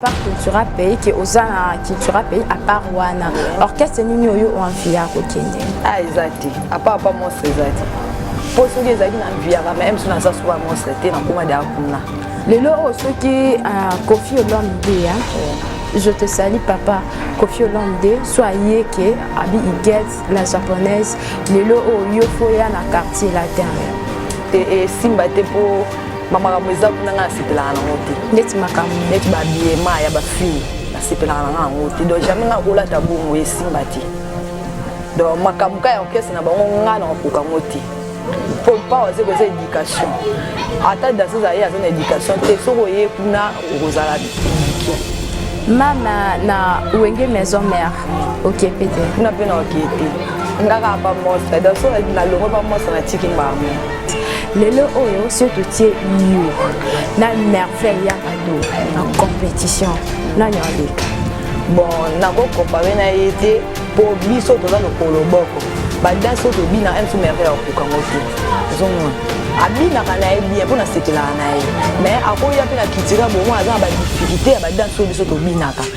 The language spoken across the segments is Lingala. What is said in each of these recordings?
Par cultura pays que oza na cultura pays à part wana orchestre nini oyo oanvia kokende ah eza te à part pas monstre eza te mpo soki ezalaki na mviaka meme so naza soki monstre te nakoma de akuna lelo oyo soki ah, kofi olombe ndeya je te sali papa kofi olomde so aye ke abi iget la japonaise lelo oyo yo foya na quartier latin te esimba te mpo bamakambo eza kuna ngai nasepelaka nango te ndeti makambo neti babiema ya bafille nasepelaka na ngai yango te donc jamais ngai kolata bongo esimba te donc makambo ka ya orchestre na bango ngai nakokoka yango te mpo mpawa aze koza éducation ata danseuse aye aza na éducation te soki oye kuna okozala éduqué mama na wenge maison mère okipe te kuna mpe na okie te ngaka pa mostre donc soki nalongo pa mostre natiki mbango lelo oyo so totie yo na merveille ya ado na compétition nani aleka bon nakokompare na ye te mpo biso toza lokolo boko badanse oyo tobina msu merveille akokoka ngo te ozomona abinaka na ye bien mpo nasekelaka na ye mais akoya mpe na kitira bomoi aza na badiffikulté ya badanse oyo biso tobinaka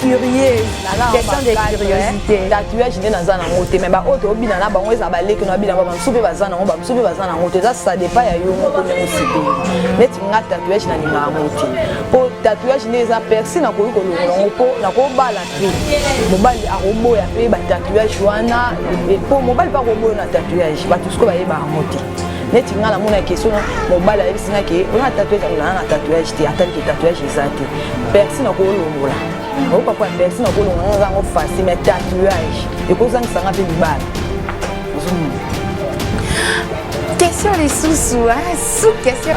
curieuse question de curiosité tatouage nde naza nango te mais baoyo tobina na bango eza baleki na babina ba bamosusu mpe baza nango bamosusu mpe baza nango te eza ça dépend ya yo moko ndenge osepeli neti nga tatouage nalinga yango te mpo tatouage nde eza persi nakoki kolongola yango mpo nakobala mpe mobali akoboya mpe batatouage wana mpo mobali mpe akoboya na tatouage bato sikoyo bayeba yango te neti ngai namona ke soki mobali ayebisi ngai ke oyo na tatouage akolana na tatouage te atali ke tatouage eza te persi nakolongola oyoka mpo ya persi nakolongola naza yango fasi mais tatouage ekozangisa ngai mpe libala ozomona question lisusu sous question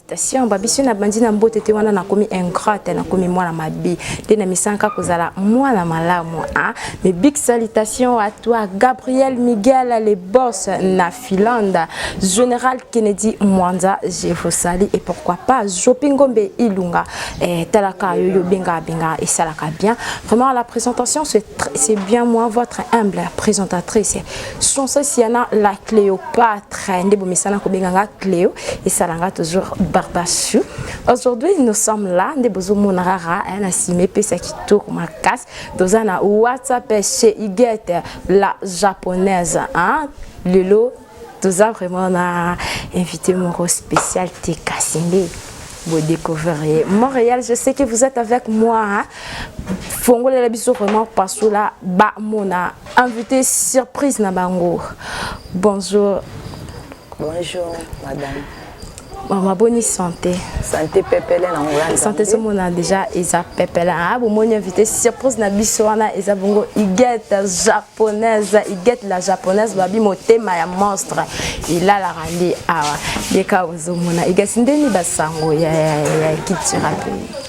Félicitations, Babisio na bandi na mbote te wana nakomi ingrate nakomi mwana mabe nde na misanka kozala mwana malamu hein? mais big salutation à toi Gabriel Miguel les boss na Finlande Général Kennedy Mwanza je vous salue et pourquoi pas Jopi Ngombe Ilunga eh, talaka yoyo benga benga et salaka bien vraiment la présentation c'est bien moi votre humble présentatrice Française Yana la Cléopâtre nde bomesana kobenga nga Cléo esala nga toujours Barbachou aujourd'hui nous sommes là nde bozomona rara hein, na nsima epesa kitoko makasi toza na whatsapp chez Igete la japonaise hein? lelo toza vraiment na invité moko spécial te kasi nde vous découvrirez Montréal. Je sais que vous êtes avec moi. Hein? Fongolela biso vraiment parce que là, ba mona Invité surprise na bango. Bonjour. Bonjour madame. Maman boni santé. Santé pepele na ngolanda. Santé ce mona déjà eza pepele. Ah bon moni invité surprise na biso wana eza bongo Igette japonaise, Igette la japonaise babi motema ya monstre. Il a la randi awa. Yeka ozo mona Igette ndeni basango ya ya ya kitira pays.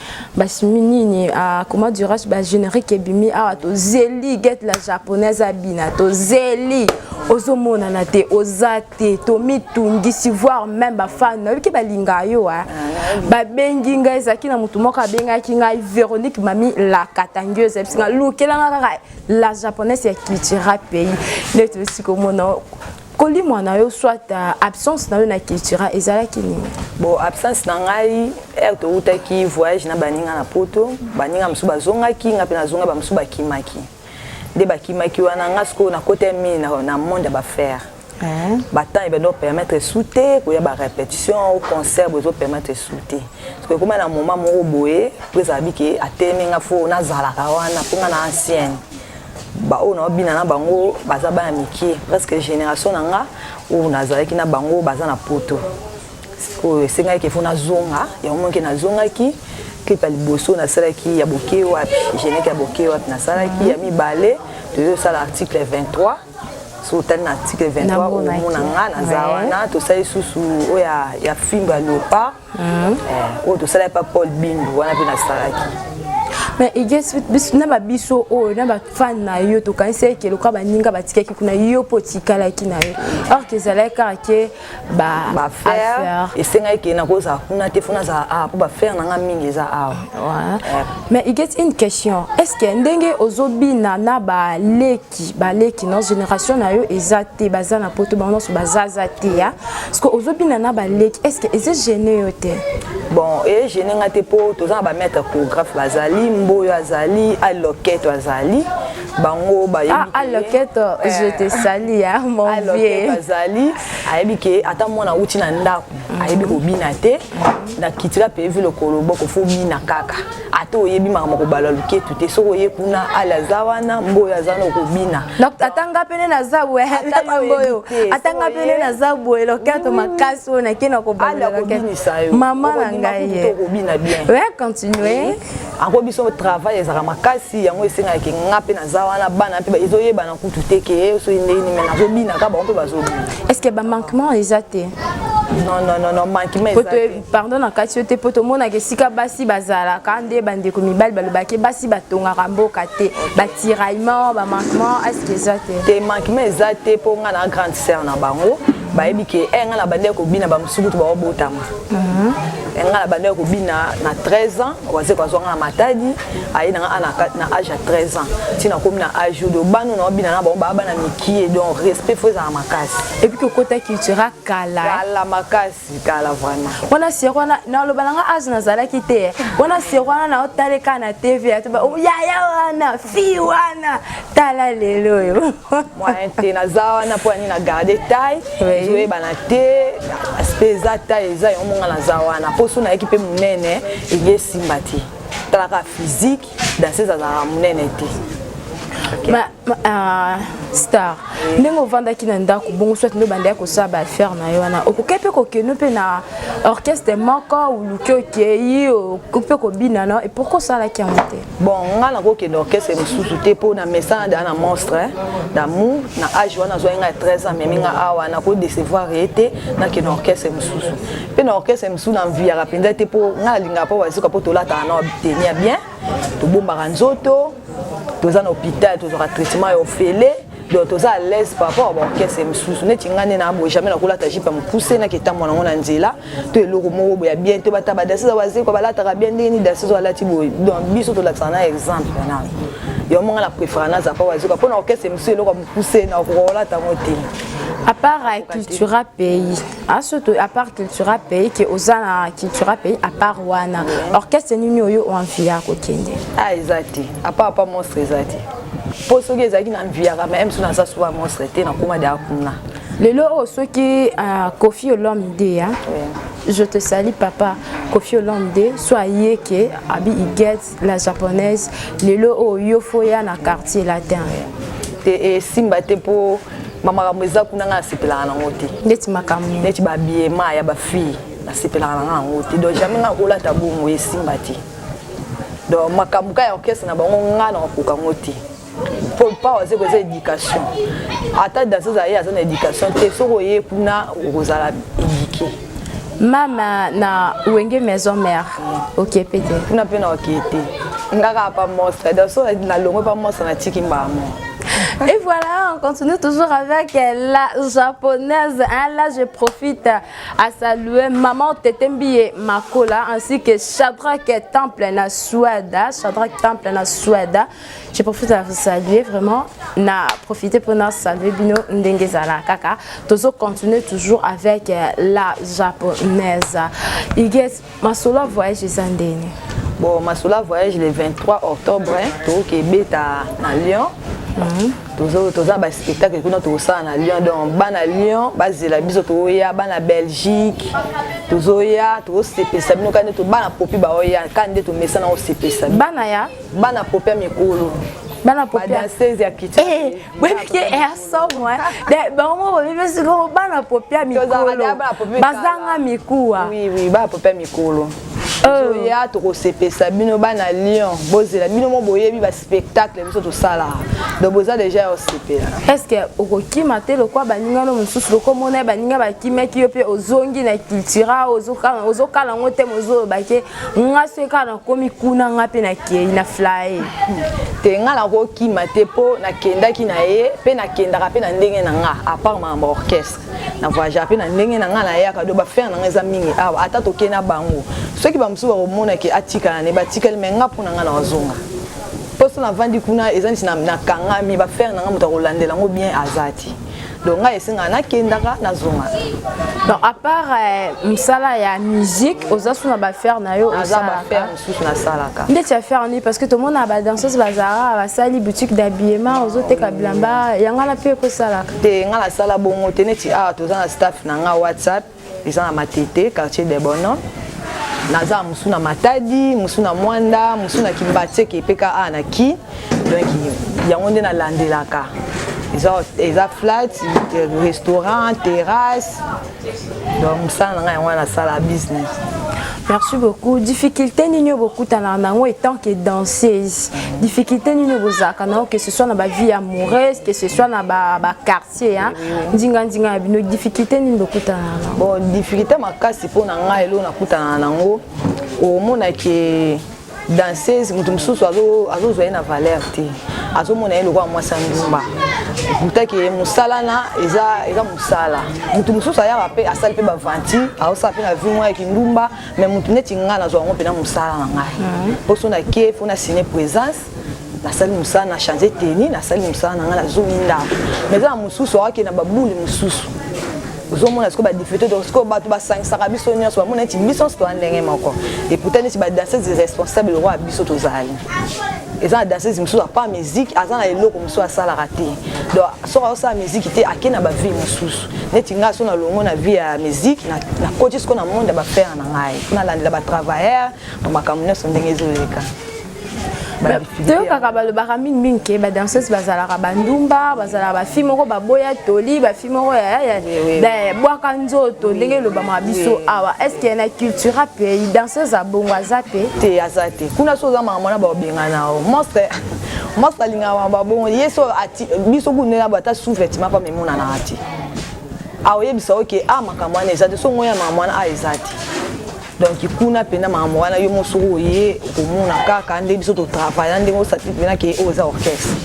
basimi nini uh, comment dirais-je ba générique ebimi awa tozeli get la japonaise abina tozeli ozomonana te oza te tomitungisi voir même bafani nayoki balinga yo a babengi ngai ezalaki na motu moko abengaki ngai véronique mami la katangieuse yebisi ngai lukelanga kaka la japonaise ya cultura pays nde tosi komona kolimwa na yo soit euh, absence na yo na cultura ezalaki nini bon absence na ngai ere towutaki voyage na baninga na poto baninga mosusu bazongaki ngai mpe nazonga bamosusu bakimaki nde bakimaki wana ngai sikoyo nakota mingi na, na monde ya bafaire eh. batemp ebenda opermettre su te koya barépétition o concert bozo permettre su te sikoyo ekoma na moment moko boye mpo ezala bike atelemi ngai fo nazalaka wana mpo ngai na ancienne baoyo na babina na bango baza bana mike presque génération na nga oyo nazalaki na bango baza na poto sikoyo esengaki kefo nazonga yango moke nazongaki clip ya liboso nasalaki ya boke wapi geneke ya boke wapi nasalaki ya mibale tozosala article 23 so otali na article 23 omona nga naza wana tosali susu oyo ya fimbo ya leopard Mm. Eh, oyo tosala epa paul bindu wana mpe nasalaki mais iges na babiso oyo na bafane na yo tokanisi eke lokola baninga batikaki kuna yo mpo otikalaki na yo or ke ezalaki kaka ke baaffaire esengaki ke nakozala kuna te fona azala awa mpo baaffaire na nga mingi eza awa eh. mais iges une question est ce que ndenge ozobina na baleki baleki na génération na yo eza te baza na poto bango nyonso bazaza te ya parce que ozobina na baleki est ce que eza gene yo te bon eye gene nga te mpo toza na bamaître choregraphe bazali mboyo azali aloketo azali bango bayebialoketo ah, eh. je te sali ya monvier azali ayebi ke ata mwana auti na ndako ayebi kobina te na kitika mpe vi lokolo boko fo bina kaka ata oyebi makambo kobala luketu te soki oye kuna ale aza wana mboyo aza na okobina ata nga pene naza boye mboyo ata nga pene naza boye loketo mm. makasi oyo nake na kobalakobinisa yo mama na ngai okobina bien we continue yango biso travail ezalaka makasi yango esengaki nga mpe naza wana bana mpe ezoyebana kutu te ke soki ndenge nime nazobinaka bango mpe bazobina est ce que bamanquement eza te non non non non manquement eza te pardon na kati yo te mpo tomonaka esika basi bazalaka nde bandeko mibali balobaki basi batongaka mboka te batiraillement bamanquement aske eza te te manquement eza te mpo ngai na grande sœur na bango bayebi ke eh, ngai na bandeki kobina bamosukutu baobotama mhm. eh, ngai na bandeki kobina na 13 ans waze kwazwa ngai na matadi aye na ngai na age ya 13 ans ti nakomi na age oyo bano naobina na bango baa bana mikie donc respect fo ezala makasi epuis kokota cultura kala kala makasi zikala vraiment wana sir wana naloba nanga age nazalaki te wana sir wana naotaleka na tv ya toba oh, yaya wana fi wana tala lelo oyo moyen te naza wana mpo ani na garde taille ezoyebana te aspect eza taille eza yango monga naza wana mposo nayaki mpe monene eye esimba te talaka physique danseuse azalaka monene te ma, ma, uh, star eh. ndenge ovandaki na ndako bongo soit nde obandaki kosala baaffaire na yo wana okoki mpe kokende mpe na orchestre moko oluki okei okoki mpe kobina no e pourkui osalaki yango te bon ngai nakokende orchestre mosusu te mpo na mesana daa na monstre d'amour na age wana azwaki ngai 13 ans memi ngai awa nakodecevoir ye te nakende orchestre mosusu mpe na orchestre mosusu na mviyaka mpenza te mpo ngai nalingaka mpo bazoka mpo tolataka na teni ya bien tobombaka nzoto toza na hôpital tozwaka traitement ya ofele donc toza à l'aise par rapport ba orchestre mosusu neti ngai nde na boye jamais nakolata jipe ya mokuse naki etambo nango na nzela to eloko moko boye ya bien to bata badasi oyo bazekwa balataka bien ndenge nini dasi oyo alati boye donc biso tolakisaka na exemple wana yo monga na préféra naza pa wazoka mpo na orchestre mosusu eloko ya mokuse na kolata yango te à part cultura pays asoto ah, apart cultura pays ke oza na cultura pays apart wana orchestre nini oyo oanvi ya kokende ah eza te apart pa monstre eza te mpo soki ezalaki na mviyaka ma mso naza soba monstre te nakoma de akuna lelo oyo oh, soki ah, kofi olomide ya je te sali papa kofi olomide so ayeke abi iget la japonaise lelo oyo oh, yo fo ya na quartier latin te esimba eh, te mpo bamakambo eza kuna ngai nasepelaka nango te neti makambo neti babiema ya bafille nasepelaka na ngai yango te donc jamais ngai olata bongo esimba te donc makambo ka ya orchestre na bango ngai nakokoka yango te po pa oza koza éducation ata danseuse aye aza na éducation te soki oye kuna okozala éduqué mama na wenge maison mère okipe te kuna mpe na okie te ngaka pa mostre danso nalongwe pa mostre natiki mbamo Et voilà, on continue toujours avec la japonaise. Hein, là, je profite à saluer Maman Tetembie Makola ainsi que Shadrach Temple na Suada. Shadrach Temple na Suada. Je profite à vous saluer vraiment. Na profiter pour nous saluer Bino Ndengezala Kaka. Tozo continuer toujours avec euh, la japonaise. Iges, ma solo voyage Zandeni. Bon, ma solo voyage le 23 octobre, hein, au Québec à, à Lyon. Mhm. toza baspectacle kuna tokosala na lyon donc bana lyon bazela biso tokoya bana belgique tozoya tokosepesa bino kaka nde bana popi baoya kaka nde tomesana kosepesa bana ya bana pope ya mikolo bana popiadanseuse ya kichboyebi ke ersomo bango boyebi sikoyo bana popi ya mikolo bazanga mikuwa bana popi ya mikolo toya tokosepesa bino bana lion bozela bino mo boyebi baspectacle biso tosalaka donc boza deja ya osepela estce okokima te lokwa baninga no mosusu lokomona ye baninga bakimaki yo mpe ozongi na cultura ozokala yango te mozolobake nga soki kaka nakomi kuna nga mpe nakei na flaye te nga nakokima te mpo nakendaki na ye mpe nakendaka mpe na ndenge na nga apart makambo ya orchestre na voyagea mpe na ndenge na nga nayaka do bafere na nga eza mingi awa ata tokei na bango soki bamosusu bakomona ke atikala ne batikali me nga mpo na nga na wazonga mposo navandi kuna eza nisi nakangami bafere na nga moto akolandela yango bien aza te donc ngai esengaka nakendaka nazonga donc à part euh, mosala ya musique oza su na bafaire na yo aza bafaire mosusu nasalaka ndeti ya faire nini parce que tomona badanseuse bazalaka basali boutique d'habillement ozoteka bilamba yango na mpe ekosalaka te ngai nasala bongo te neti awa toza na staff na ngai whatsapp eza na matete quartier de bono naza mosu na matadi mosu na mwanda mosu na kimbatseke epeka a ah, na ki donc yango nde nalandelaka eza, eza flat restaurant terrasse donc mosala na ngai yango wana nasala business merci beaucoup difficulté nini oyo bokutanaka na yango etant que danseuse difficulté nini oyo bozalaka na yango que ce soit na bavie amoureuse que ce soit na baquartier ba quartier ya ndinga ndinga ya bino difficulté nini bokutana na yango bon difficulté makasi mpo na ngai eloko nakutana na yango omona ke danseuse moto mosusu azozwa ye na valeur te azomona ye lokola mwasi ya ndumba mutake mosala na eza eza mosala moto mosusu ayaka mpe asali mpe baventure aosala mpe na vie mwa ya kindumba mai moto neti ngai nazwa yango mpe na mosala na ngai mposo na kie mpo na sine présence nasali mosala na change teni nasali mosala na ngai nazongi ndako mais eza na mosusu awake na babule mosusu ozomona sikoyo badifete donc sikoyo bato basangisaka biso nyonso bamona neti biso nyonso toza ndenge moko epouta neti badanseuse irresponsable lokola biso tozali eza na danseuse mosusu apart musique aza na eloko mosusu asalaka te donc soki azosala musique te ake na bavie mosusu neti ngai so na longo na vie ya musique nakoti sikoyo na monde ya bafere na ngai mpo nalandela batravailleur na makambo nyonso ndenge ezoleka toyokaka balobaka mingimingi ke badanseuse bazalaka bandumba bazalaka bafi moko baboya toli bafi moko bwaka nzoto ndenge elobamaka biso awa estce na culture ape danseuse abongo aza te te aza te kuna so ozamaka mwana babengana o monstre monstre alingaka mama babongo ye so biso kunena bo ata sous vêtement pa memonanaka te aoyebisa oke a ah, makambo wana eza te so ngoyamaka mwana a ah, eza te donc kuna mpenza makambo wana yo moso oye okomona kaka nde biso totravailla ndenge osati mpena ke oyo eza orchestre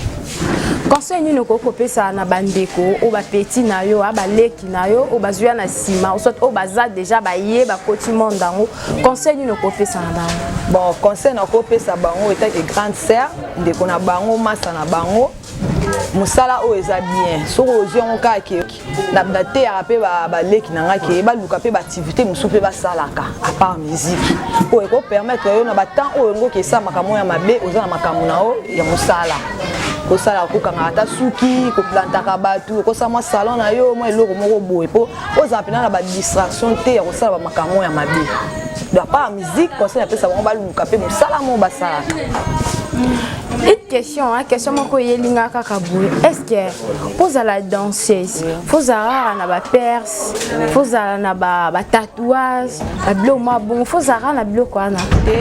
conseil nini okoki kopesa na bandeko oyo bapeti na yo a baleki na yo oyo bazwi ya na nsima osot oyo baza deja baye bakoti monde yango conseil nini okopesa na bango bon conseil nakopesa bango etake grande sœur ndeko na bango masa na bango mosala oyo eza bien soki ozwi yango kaka nateyaka mpe baleki na ngai ke baluka mpe baaktivité mosusu mpe basalaka apart musike oyo ekopermettre yo na batemp oyo yango okesa makambo ya mabe oza na makambo na yo ya mosala kosala kokangaka ata suki koplantaka bato okosala mwa salon na yo mwa eloko moko boye mpo ozala mpena na badistraction te ya kosala bamakambo ya mabe do apart musike conseil apesa bango baluka mpe mosala moko basalaka petite question hein, question moko eyelinga kaka boye est ce que fozala danseuse fozala kaka na baperse fozala na batatouage babiloko mwa bongo fozala kaka na biloko wana te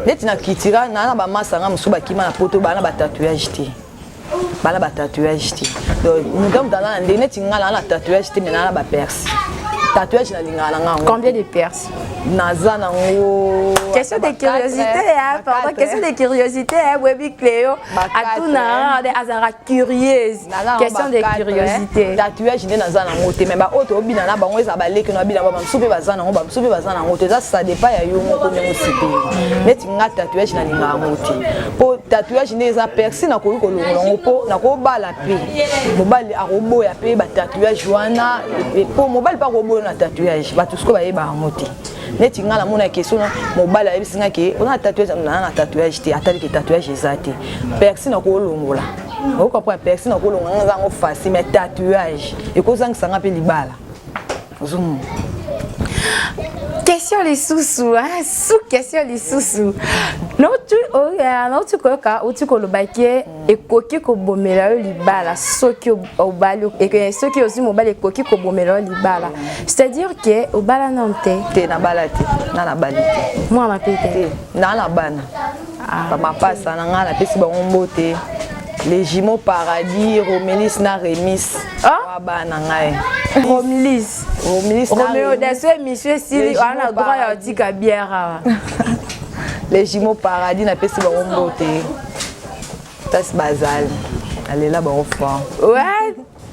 neti na kitira naa na bamasanga mosusu bakima na poto baa na batatouage te baa na batatouage te donc moto ya moto aza na ndenge neti ngai naa na tatouage te me naa na baperse tatouage nalingaka na ngai combien de perse naza nango question de curiosité hein, pardon question de curiosité hein, boyebi cléo atuna de azalaka curieuse question de curiosité tatouage nde naza nango te mais baoyo tobina na bango eza baleki na bina bamosusu mpe baza nango bamosusu mpe baza nango te eza ça dépend ya yo moko ndenge osepeli neti nga tatouage nalingaka yango te mpo tatouage nde eza persi nakoki kolongola yango mpo nakobala mobali akoboya mpe batatouage wana mpo mobali mpe akoboya na tatouage bato sikoyo bayeba yango te neti ngai namona ke sona mobali ayebisi ngai ke ona tatouage naa na tatouage te atali ke tatouage eza te persi nakolongola okoka mpo ya persi nakolongola ngai eza yango facile mais tatouage ekozangisa ngai mpe libala Zoom. Question lisusu, hein? sous question lisusu. Nauti oh, koyoka uti koloba ke ekoki kobomela yo libala soki obali soki ozwi mobali ekoki kobomela yo libala c'est-à-dire ke obala nano te te nabala te na nabali te mwana mpe te na na bana ah, ba mapasa na ngai napesi bango mbote les jumeaux paradis romelis na remis ah? bana ngai romelis romelis romeo daso émission esili wana droit ya otika bière awa les jumeaux paradis napesi bango mbote kasi bazali alela bango fort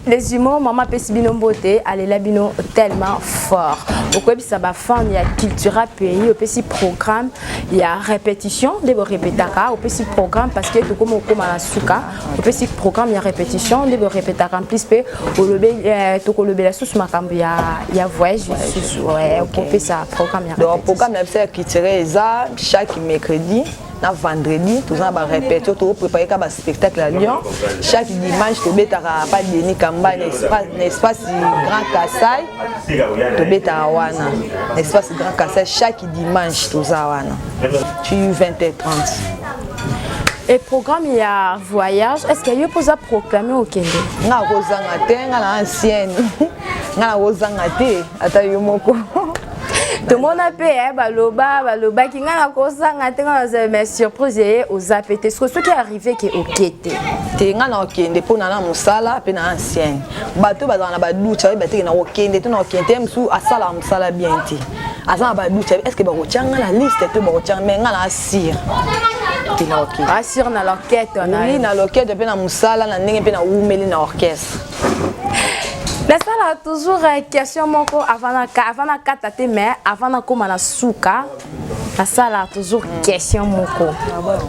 Les humains, maman pesi bino mbote, alela bino tellement fort. Okoyebisa ba fans ya Cultura Pays, opesi programme ya répétition, nde bo répétaka, opesi programme parce que tokoma okoma na suka, opesi programme ya répétition, nde bo répétaka en plus pe olobe euh, tokolobela susu makambo ya ya voyage susu, ouais, okopesa programme ya Donc répétition. programme na biso ya culturel eza chaque mercredi na vendredi toza na barepetio tokoprepare ka baspectacle ya lyon chaque dimanche tobetaka pa deni kamba na espace grand kasai tobetaka wana na espace grand kasai chaque dimanche toza wana tu 20 et 30 e programme ya voyage est ce que yo mpoza proclame okende nga kozanga te nga na ancienne nga na kozanga te ata yo moko tomona mpe eh, baloba balobaki ngai nakosanga te ngai nazala ma surprise eye eh, oza mpe te siko soki arrive ke oke te te ngai nakokende mpo na na mosala mpe na ancienne bato bazala na baduce bayebi bateke nakokende to nakokende te mosusu asalaka mosala bien te aza na baduce est ce que bakotya ngai na liste to bakotya ngai me ngai na asire asire na l'orchestre oui na l'orchestre mpe na mosala na ndenge mpe na wumeli na orchestre nasala toujours euh, question moko avant nakata te mais avant nakóma na suka nasala toujours question moko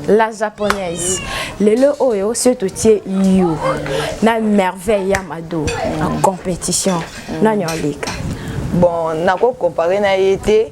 la japonaise lelo oyo soki totie yo na merveille ya mado na compétition nani oleka bon nakokompare na ye te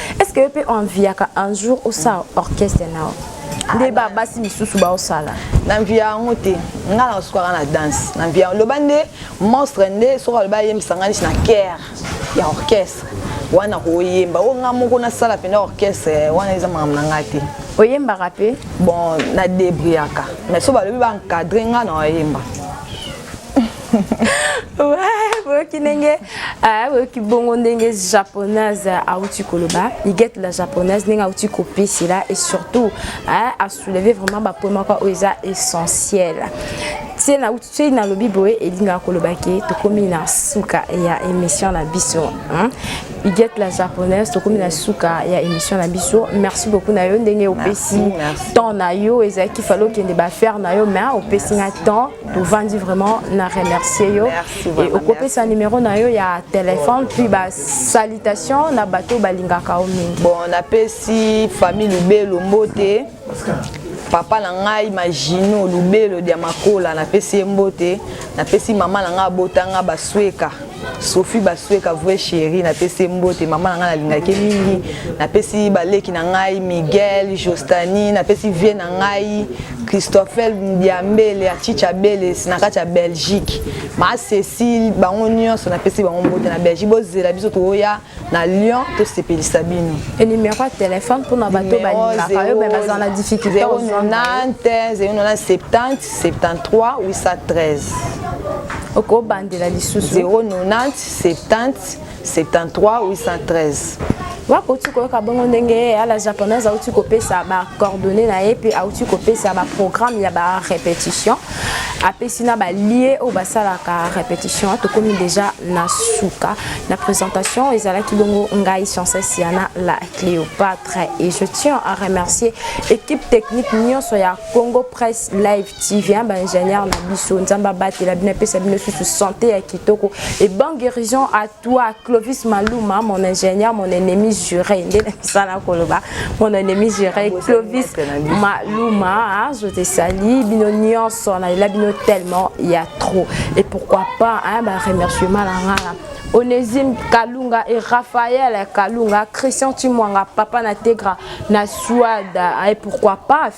est ce que yo mpe oenviaka un jour osala orchestre nao nde babasi misusu baosala na mviya yango te nga na osukaka na danse na mviya loba nde monstre nde soki aloba ayembisa nga nisi na kere ya orchestre wana koyemba oyo nga moko nasala mpena orchestre wana eza makambo na ngai te oyembaka mpe bon na debriaka mais so balobi baencadre nga na oyemba boyoki ndenge ah, boyoki bongo ndenge japonaise auti koloba igete la japonaise ndenge auti kopesela et surtout ah, asouleve vraiment bapoint moko oyo eza essentiel se nauti soki nalobi boye elingaka koloba ke tokomi na suka ya émission na biso igete la japonaise tokomi na suka ya émission na biso merci beaucoup na yo ndenge opesi temps na yo ezalaki fale okende bafaire na yo mais opesi nga temps tovandi vraiment na remercier yo et okopesa numéro na yo ya téléphone puis ba salutation na bato balingaka yo mingi bon napesi famille lubelo mbote papa na ngai magino lubelo dia makola napesi ye mbote napesi mama na ngai abota ngai basweka sophie basueka vrai chéri napesi ye mbote mama na ngai nalingaki ye mingi napesi baleki na ngai miguel jostani napesi vie na ngai christophel diambele ya chicha beles na kati ya belgique ma cécile bango nyonso napesi bango mbote na belgique bozela biso toya na lyon tosepelisa bino e numero ya telefone mpona bato balingaka yo me bazala na difficulté 097073 okobandela lisusu 097073 wakoki koyoka bongo ndenge ye ya la japonaise auti kopesa bacoordonne na ye mpe auti kopesa baprogramme ya barépétition apesi na balie oyo basalaka repetition tokomi deja na suka na présentation ezalaki bongo ngai chances yana la cléopatre et je tiens à remercier équipe technique nyonso ya congo presse live tv hein, baingénieur na biso nzambe abatela bino apesa bino susu santé ya kitoko et bonne guérison à toi Clovis Maluma mon ingénieur mon ennemi juré nde nasala koloba mon ennemi juré Clovis Maluma je te salue bino nyonso nalela bino tellement il y a trop et pourquoi pas hein, ba remerciement na ngala Onésime Kalunga et Raphaël Kalunga, Christian Timwanga, Papa Nategra, Nasuada, et pourquoi pas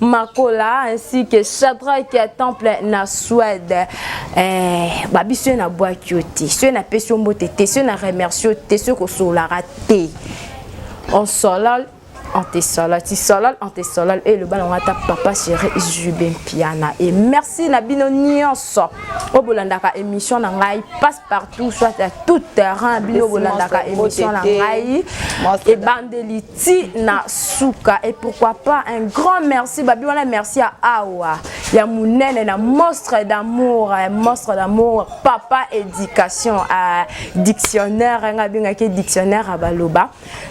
makola ainsi que shadrake ya temple na swede eh, babi soki nabwaki yo te soki napesi yo mbote te soki na remercie yo te soki kosololaka te onsolol antesolol tisolol antesolol oyo eloba nango ata papa chéri jube mpiana e merci na bino nyonso oyo bolandaka émission na ngai partout soit à tout terrain bino bolandaka émission na ngai ebandeli ti na suka et pourquoi pas un grand merci babi wana merci ya awa ya monene na monstre d'amour eh, monstre d'amour papa éducation à eh, dictionnaire eh, nga abengaki dictionnaire ya baloba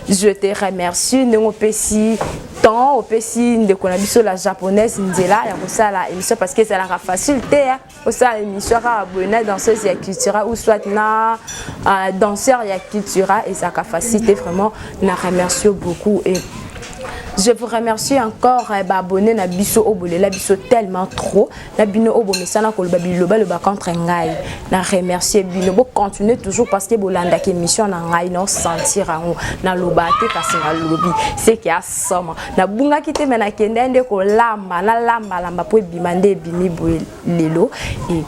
je te remercie ndenge opesi temps opesi ndeko na biso la japonaise nzela ya kosala émission parce que ezalaka facile te osala émission kaka boye na danseuse ya cultura ou soit na uh, danseur ya cultura ezalaka facile te vraiment na remercie beaucoup et je vous remercie encore eh, baabonne na biso oyo bolela biso tellement trop na bino oyo bomesana koloba bilobaloba contre ngai na remercie bino bocontinue toujours parce que bolandaka émission na ngai naosentir yango naloba te kasi nalobi seke asoma nabungaki te me nakendai nde kolamba nalambalamba mpo ebima nde ebimi boye lelo e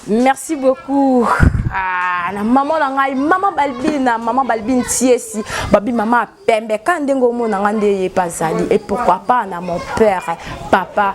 merci beaucoup ah, na mama na ngai mama balbina mama balbine tiesi babi mama pembe ka ndenge omona ngai nde ye mpazali et pourquoi pas na mon père papa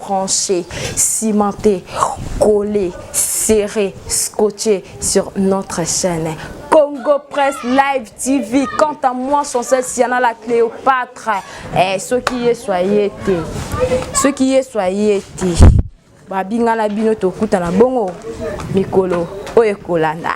brancher, cimenter, coller, serrer, scotcher sur notre chaîne. Congo Press Live TV. Quant à moi, son sel Siana la Cléopâtre. Eh, ce qui est soyez Ce qui est soyez Babinga na bino tokuta na bongo mikolo oyo ekolanda.